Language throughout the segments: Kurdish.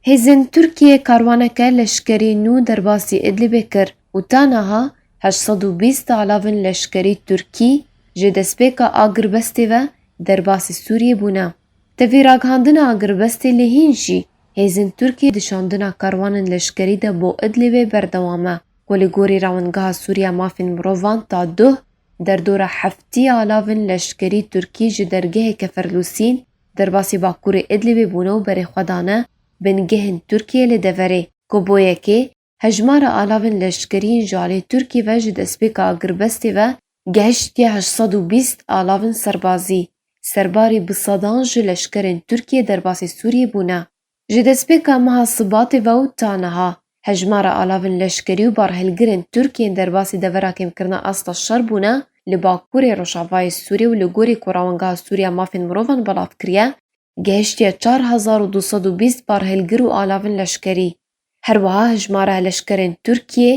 Hêzên Tirkiyê karwaneke leşkerî nû derbasî Idlibê kir û ta niha heşt sed û bîst alavên leşkerî Tirkî ji destpêka agirbestê ve derbasî Sûriyê bûne. Tevî ragihandina agirbestê lê hîn jî hêzên Tirkiyê di şandina karwanên leşkerî de bo Idlibê berdewam e ku li gorî Rewandgeha Sûrî ya Mafên Mirovan ta duh derdora heftî alavên leşkerî Tirkî ji dergehê Keferlûsîn Derbasî Bakurê Idlibê bûne û berê xwe dane bingehên Tirkiyê li deverê, ku bo yekê hejmara alavên leşkerî yên ji aliyê Tirkiyê ve ji destpêka agirbestê ve gehiştiye heşt sed û bîst alavên serbazî. Serbarî bi sedan ji leşkerên Tirkiyê derbasî Sûriyê bûne. Ji destpêka meha Sibatê ve û ta niha, hejmara alavên leşkerî û barhilgirên Tirk yên derbasî devera kêmkirina asta şer bûne li bakurê rojavayê Sûriyê û li gorî ku Rawengeha Sûrî ya Mafên Mirovan belav kiriye, gihiştiye çar hezar û du sed û bîst barhilgir û alavên leşkerî. Her wiha hejmara leşkerên Tirkiyê,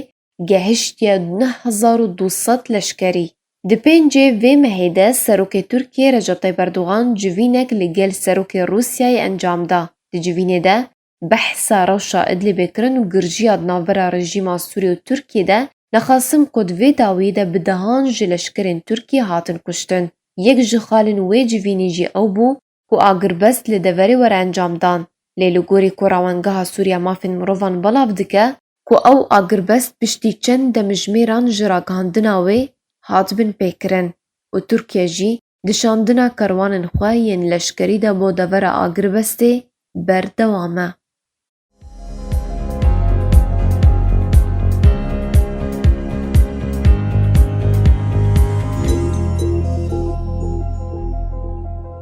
gehiştiye neh hezar û du sed leşkerî. Di pêncê vê mehê de Serokê Tirkiyê Recep Tayyîp Erdogan civînek li gel Serokê Rûsyayê encam da. Di civînê de behsa rewşa Idlibê kirin û girjiya di navbera rejîma Sûriyê û Tirkiyê de nexasim ku di vê dawiyê de bi dehan ji leşkerên Tirkiyê hatin kuştin. Yek ji xalên wê civînê jî ew bû ku agirbest li deverê were encam dan, lê li gorî ku Rawengeha Sûriya Mafên Mirovan belav dike, ku ew agirbest piştî çend demijmêran ji ragihandina wê hat bin pêkirin û Tirkiye jî di şandina kerwanên xwe yên leşkerî de bo devera agirbestê berdewam e.